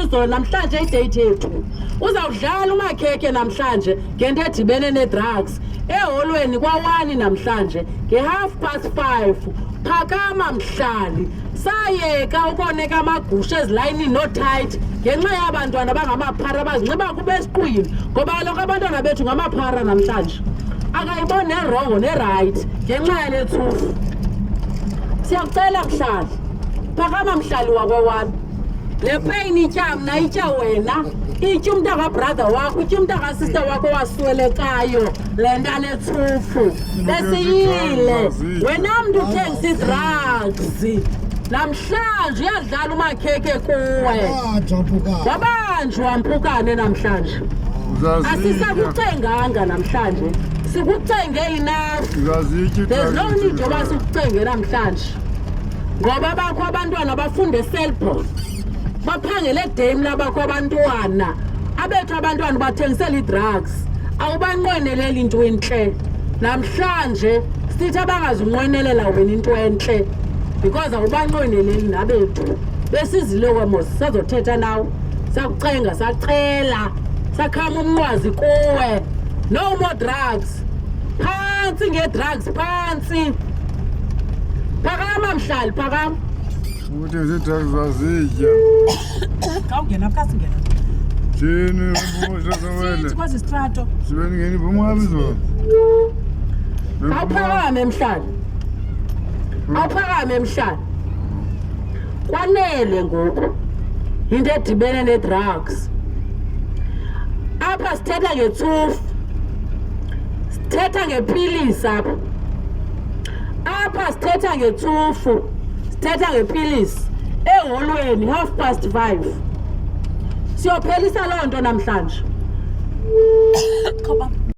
izolo namhlanje idate yethu uzawudlala umakhekhe namhlanje ngento edibene nee-drugs eholweni kwawani namhlanje nge-half past five phakama mhlali sayeka ukoneka amagusha ezilayinini noothayiti ngenxa yabantwana bangamaphara bazinxiba kuba esiqwini ngoba kaloku abantwana bethu ngamaphara namhlanje akayiboni nerongo nerayithi ngenxa yale tsufu siyakucela mhlali phakama mhlali wakwawani le pain itya mna itya wena itya umntu akabrother wakho itya umntu akasister wakho waswelekayo le nto aletsuphu esiyile wena mntu uthengisa idrugs namhlanje uyadlala umakhekhe kuwe wabanjwa mpukane namhlanje asisakucenganga namhlanje sikucenge enough there's no need yoba sikucenge namhlanje ngoba bakho abantwana bafunde eselbon baphangele edame labakho abantwana abethu abantwana bathengisela ii-drugs awubanqweneleli into entle namhlanje sithi abangazunqwenelela wena into entle because awubanqweneleli nabethu besizile wemo sazothetha nawe sakucenga sacela sakhama umnqwazi kuwe no more drugs Phansi ngedrugs, phansi. Phakama mhlali, phakama. Ukuthi zidrugs zazitya. Xa ungena phakathi ngena. Thini ubuhle sewele. Sithi kwazi strato. Sibe ngeni bomhamba izolo. Awuphakame mhlali. Awuphakame mhlali. Kwanele ngoku. Into edibene ne drugs. Apha sithetha ngetsufu. sithetha ngepilisi apha apha sithetha ngetsufu sithetha ngepilisi eholweni half past five siyophelisa loo nto namhlanje